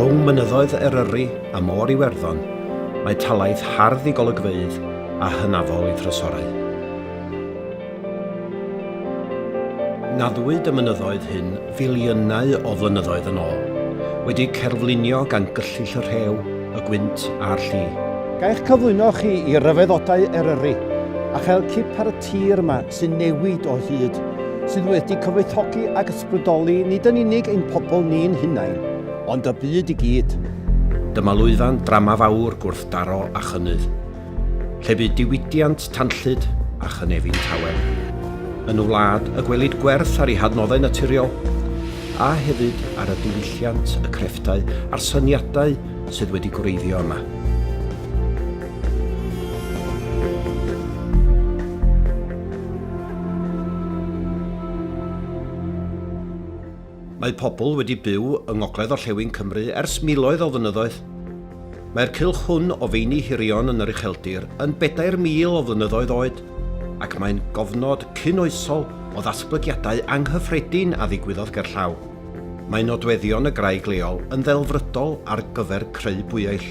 Rhwng mynyddoedd Eryri a Môr Iwerddon, mae talaith hardd i golygfeydd a hynafol i thrysorau. Naddwyd y mynyddoedd hyn filiynau o flynyddoedd yn ôl, wedi cerflunio gan gyllyll y rhew, y gwynt a'r lli. Ga eich cyflwyno chi i ryfeddodau Eryri a chael cip ar y tir yma sy'n newid o hyd, sydd wedi cyfoethogi ac ysbrydoli nid yn unig ein pobl ni'n hunain, ond y byd i gyd. Dyma lwyfan drama fawr gwrthdaro a chynnydd, lle bu diwydiant tanllyd a chynefin tawel. Yn y wlad y gwelid gwerth ar ei hadnoddau naturiol, a hefyd ar y diwylliant, y crefftau a'r syniadau sydd wedi gwreiddio yma. Mae pobl wedi byw yng ngogledd orllewin Cymru ers miloedd o flynyddoedd. Mae'r cylch hwn o feini hirion yn yr ucheldir yn 4,000 o flynyddoedd oed, ac mae'n gofnod cyn-oesol o ddatblygiadau anghyffredin a ddigwyddodd gerllaw. Mae nodweddion y graig leol yn ddelfrydol ar gyfer creu bwyeill.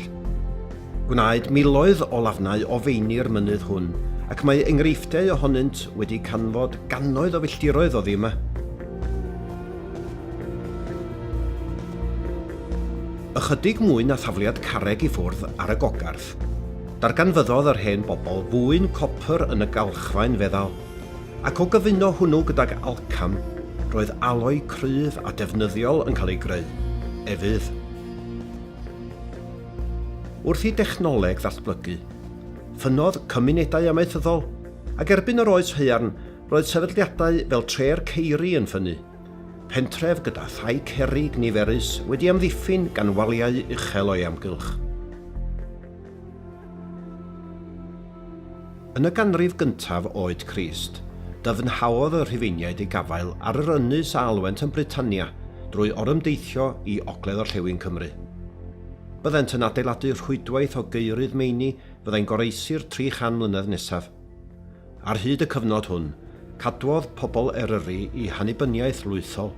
Gwnaed miloedd o lafnau o feini'r mynydd hwn, ac mae enghreifftiau ohonynt wedi canfod gannoedd o filltiroedd oddi yma. Ychydig mwy na thafliad carreg i ffwrdd ar y gogarth, darganfyddodd yr hen bobl fwyn copr yn y galchfaen feddal. Ac o gyfuno hwnnw gydag alcam, roedd aloi cryf a defnyddiol yn cael ei greu, efydd. Wrth i dechnoleg ddatblygu, ffynnodd cymunedau amaethyddol, ac erbyn yr Oes Haearn, roedd sefydliadau fel Tre'r Ceiri yn ffynnu, pentref gyda thai cerrig niferus wedi amddiffyn gan waliau uchel o'i amgylch. Yn y ganrif gyntaf oed Crist, dyfnhaodd y Rhufeiniaid eu gafael ar yr ynys a alwent yn Britannia drwy orymdeithio i ogledd-orllewin Cymru. Byddent yn adeiladu rhwydwaith o geurydd meini fyddai'n goroesi'r 300 mlynedd nesaf. Ar hyd y cyfnod hwn, cadwodd pobl Eryri i hannibyniaeth lwythol.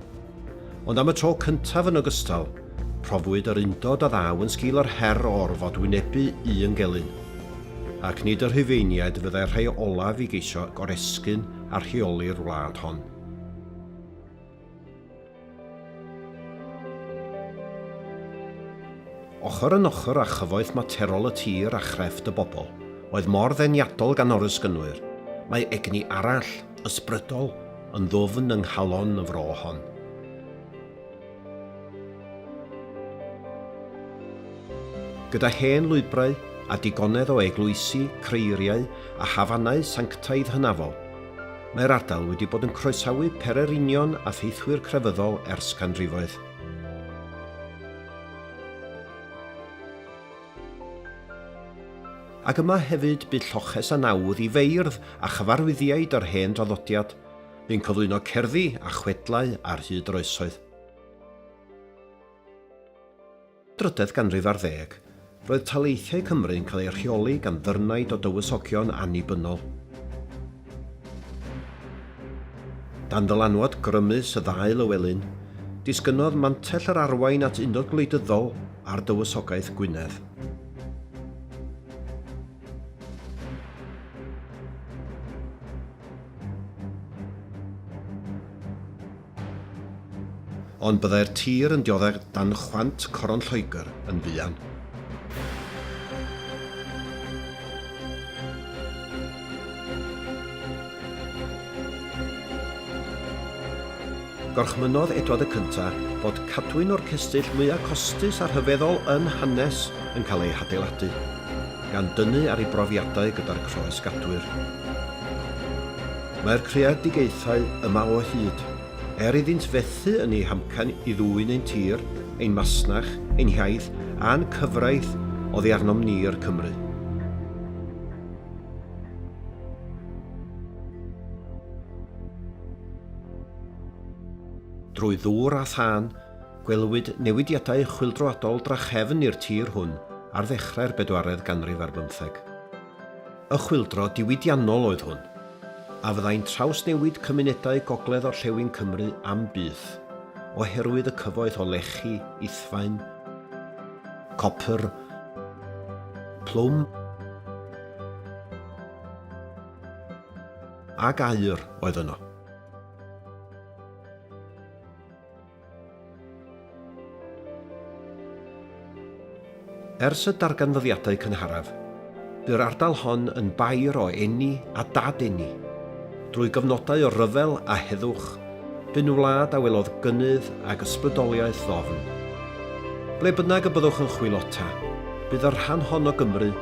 Ond am y tro cyntaf yn ogystal, profwyd yr undod a ddaw yn sgil yr her o orfod wynebu un gelyn. Ac nid y Rhufeiniaid fyddai'r rhai olaf i geisio goresgyn a rheoli'r wlad hon. Ochr yn ochr â chyfoeth materol y tir a chrefft y bobl, oedd mor ddeniadol gan orysgynwyr, mae egni arall, ysbrydol, Yn ddwfn yng nghalon y fro hon. Gyda hen lwybrau a digonedd o eglwysi, creiriau a hafannau sanctaidd hynafol, mae'r ardal wedi bod yn croesawu pererinion a theithwyr crefyddol ers canrifoedd. Ac yma hefyd bu lloches a nawdd i feirdd a chyfarwyddiaid yr hen draddodiad, bu'n cyflwyno cerddi a chwedlau ar hyd yr oesoedd. Drydedd ganrif ar ddeg, roedd taleithiau Cymru'n cael eu rheoli gan ddyfrnaid o dywysogion annibynnol. Dan ddylanwad grymus y ddau Lywelyn, disgynnodd mantell yr arwain at undod gwleidyddol â'r Dywysogaeth Gwynedd. Ond byddai'r tir yn dioddef dan chwant Coron Lloegr yn fuan. Gorchmynnodd Edward y Cynta fod cadwyn o'r cestyll mwyaf costus a rhyfeddol yn hanes yn cael ei hadeiladu, gan dynnu ar ei brofiadau gyda'r croes-gadwyr. Mae'r creadigaethau yma o hyd. Er iddynt fethu yn eu hamcan i ddwyn ein tir, ein masnach, ein hiaith a'n cyfraith oddi arnom ni i'r Cymry. Drwy ddŵr a thân, gwelwyd newidiadau chwyldroadol drachefn i'r tir hwn ar ddechrau'r bedwaredd ganrif ar bymtheg. Y chwyldro diwydiannol oedd hwn, a fyddai'n trawsnewid cymunedau gogledd-orllewin Cymru am byth, oherwydd y cyfoeth o lechi, ithfaen, copr, plwm, ac aur oedd yno. Ers y darganfyddiadau cynharaf, bu'r ardal hon yn bair o eni a dad-eni. Drwy gyfnodau o ryfel a heddwch, bu'n wlad a welodd gynnydd ag ysbrydoliaeth ddofn. Ble bynnag y byddwch yn chwilota, bydd y rhan hon o Gymru